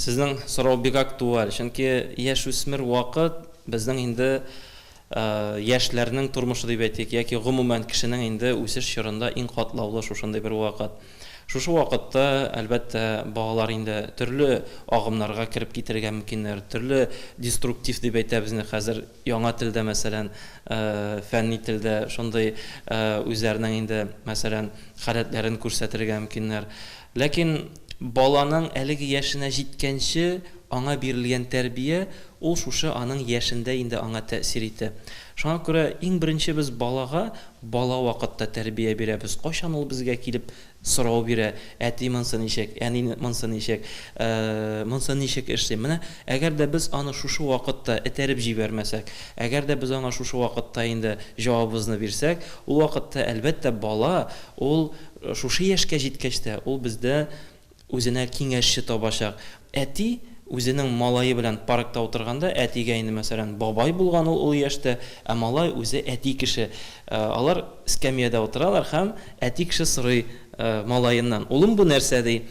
Сезнең сорау бик актуаль, чөнки яшүсмер вакыт безнең инде яшьләрнең тормышы дип әйтик, яки гомумән кешенең инде үсеш чорында иң катлаулы шушындый бер вакыт. Шушы вакытта, әлбәттә, балалар инде төрле агымнарга кереп китәргә мөмкиннәр, төрле деструктив дип әйтәбез инде хәзер, Яңа телдә, мәсәлән, фәнни телдә шундый үзләренең инде, мәсәлән, халәтләрен күрсәтергә мөмкиннәр. Ләкин баланың әлеге яшенә җиткәнче аңа бирелгән тәрбия, ул шушы аның яшендә инде аңа тәэсир итә. Шуңа күрә иң беренче без балага бала вакытта тәрбия бирәбез, кайчан ул безгә килеп Сорау бирә, Әти, монсы ничек? Әни, монсы ничек? Монсы ничек эшлим? Менә әгәр дә без аны шушы вакытта этәреп җибәрмәсәк, әгәр дә без аңа шушы вакытта инде җавабыбызны бирсәк, ул вакытта, әлбәттә, бала ул шушы яшькә җиткәч тә ул бездә үзенә киңәшче табачак, Әти үзенең малае белән паркта утырганда, әтигә инде, мәсәлән, бабай булган ул олы яшьтә, ә малай үзе әти кеше. Алар эскәмиядә утыралар һәм әти кеше сорый малаеннан, Улым, бу нәрсә? ди.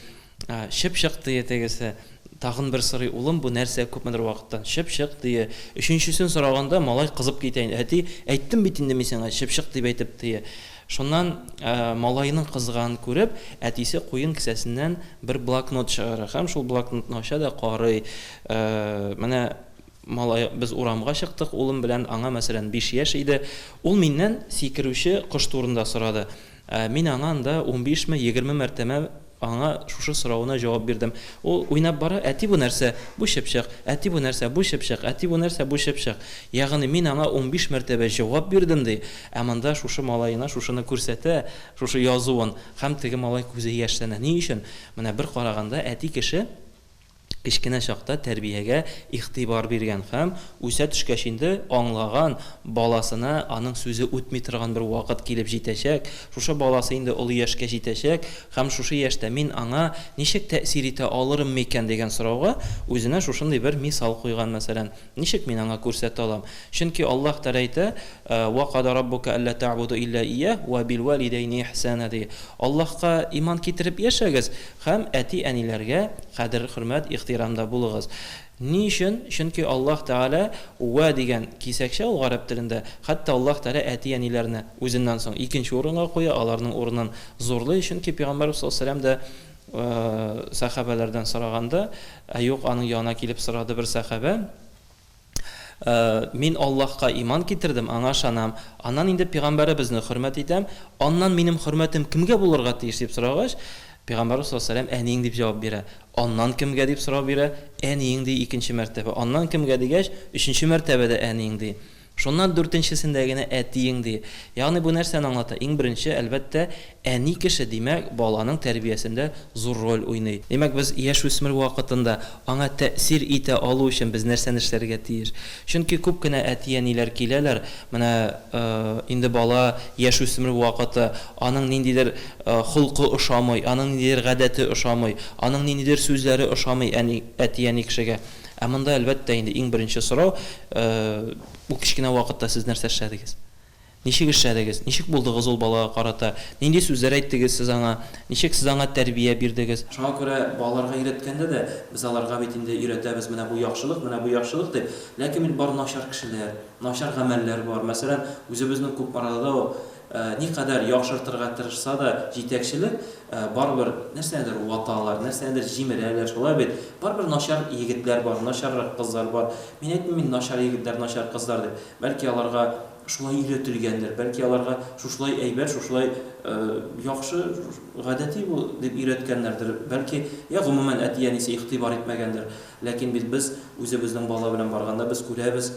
Чыпчык, дие тегесе. Тагын бер сорый, Улым, бу нәрсә? Күпмедер вакыттан, Чыпчык, дие. Өченчесен сораганда, малай кызып китә инде, Әти, әйттем бит инде мин сиңа, чыпчык дип әйтеп, дие. Шуннан малаеның кызганын күреп, әтисе куен кесәсеннән бер блокнот чыгара һәм шул блокнотны ача да карый, Менә малай, без урамга чыктык улым белән, аңа, мәсәлән, биш яшь иде, ул миннән сикерүче кош турында сорады. Мин аңа анда унбишме, егерме мәртәбә Аңа шушы соравына җавап бирдем. Ул уйнап бара, Әти, бу нәрсә? Бу чыпчык. Әти, бу нәрсә? Бу чыпчык. Әти, бу нәрсә? Бу чыпчык. Ягъни мин аңа унбиш мәртәбә җавап бирдем, ди. Ә монда шушы малаена шушыны күрсәтә, шушы язуын, һәм теге малай күзе яшьләнә. Ни өчен? Менә бер караганда әти кеше. Кечкенә чакта тәрбиягә игътибар биргән һәм, үсә төшкәч инде, аңлаган баласына аның сүзе үтми торган бер вакыт килеп җитәчәк, шушы баласы инде олы яшькә җитәчәк һәм шушы яшьтә мин аңа ничек тәэсир итә алырым микән дигән сорауга үзенә шушындый бер мисал куйган, мәсәлән. Ничек мин аңа күрсәтә алам? Чөнки Аллаһ Тәгалә әйтә, Ва када раббука әллә тәгъбуду илля ияһ уа билвәлидәйни ихсана, ди. Аллаһка иман китереп яшәгез һәм әти-әниләргә кадер-хөрмәт, ихтирамда булыгыз. Ни өчен? Чөнки Аллаһ Тәгалә уа дигән кисәкчә ул гарәп телендә, хәтта Аллаһ Тәгалә әти-әниләрне үзеннән соң икенче урынга куя, аларның урынын зурлый, чөнки пәйгамбәрбез саллаллаһу галәйһи ва сәлләм дә Сәхабәләрдән сораганда, ә юк, аның янына килеп сорады бер сәхабә, Мин Аллаһка иман китердем, Аңа ышанам, аннан инде Пигамбәребезне хөрмәт итәм, аннан минем хөрмәтем кемгә булырга тиеш? дип сорагач, Пигамбәрбез саллаллаһу галәйһи ва сәлләм, Әниең дип җавап бирә. Аннан кемгә? дип сорау бирә, Әниең, ди, икенче мәртәбә. Аннан кемгә? дигәч, өченче мәртәбә дә Әниең, ди. Шуннан дүртенчесендә генә әтиең ди. Ягъни бу нәрсәне аңлата? Иң беренче, әлбәттә, әни кеше, димәк, баланың тәрбиясендә зур роль уйный. Димәк, без яшүсмер вакытында аңа тәэсир итә алу өчен без нәрсәне эшләргә тиеш? Чөнки күп кенә әти-әниләр киләләр, менә инде бала яшүсмер вакыты, аның ниндидер холкы ошамый, аның ниндидер гадәте ошамый, аның ниндидер сүзләре ошамый әни, әти-әни кешегә. Ә монда, әлбәттә инде, иң беренче сорау, Ул кечкенә вакытта сез нәрсә эшләдегез? Ничек эшләдегез? Ничек булдыгыз ул балага карата? Нинди сүзләр әйттегез сез аңа? Ничек сез аңа тәрбия бирдегез? Шуңа күрә балаларга өйрәткәндә дә, без аларга бит инде өйрәтәбез, менә бу яхшылык, менә бу яхшылык дип. Ләкин бит бар начар кешеләр, начар гамәлләр бар. Мәсәлән, үзебезнең Кукмарада ук никадәр яхшыртырга тырышса да җитәкчелек, Барыбер нәрсәнедер ваталар, нәрсәнедер җимерәләр, шулай бит? Барыбер начар егетләр бар, начаррак кызлар бар. Мин әйтмим инде начар егетләр, начар кызлар дип. Бәлки аларга шулай өйрәтелгәндер, бәлки аларга шушылай әйбәт, шушылай яхшы, гадәти бул, дип өйрәткәннәрдер. Бәлки, йә гомумән әти-әнисе игътибар итмәгәндер. Ләкин бит без үзебезнең бала белән барганда без күрәбез,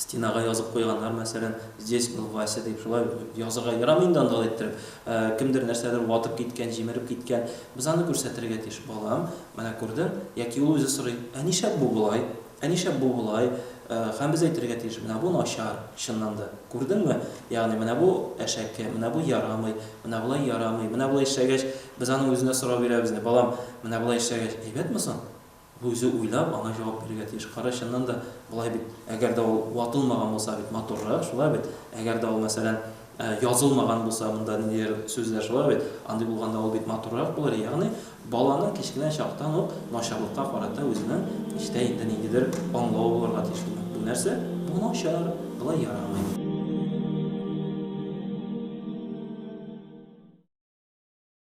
Стенага язып куйганнар, мәсәлән, Здесь был Вася дип. Шулай язырга ярамый инде анда алай иттереп. Кемдер нәрсәдер ватып киткән, җимереп киткән. Без аны күрсәтергә тиеш. Балам, менә күрдең? Яки ул үзе сорый, Ә нишләп бу болай? Ә нишләп бу болай? Һәм без әйтергә тиеш, Менә бу начар, чыннан да. Күрдеңме? Ягъни менә бу әшәке, менә бу ярамый, менә болай ярамый. Менә болай эшләгәч, без аның үзенә сорау бирәбез инде, Балам, менә болай эшләгәч, әйбәтме соң? Бу үзе уйлап, аңа җавап бирергә тиеш. Кара, чыннан да, болай бит, әгәр дә ул ватылмаган булса бит матуррак, шулай бит? Әгәр дә ул, мәсәлән, язылмаган булса, монда ниндидер сүзләр, шулай бит? Андый булганда ул бит матуррак булыр. Ягъни, баланың кечкенә чактан ук начарлыкка карата үзенең эчтә инде ниндидер аңлавы булырга тиеш. Димәк, бу нәрсә? Бу начар, болай ярамый.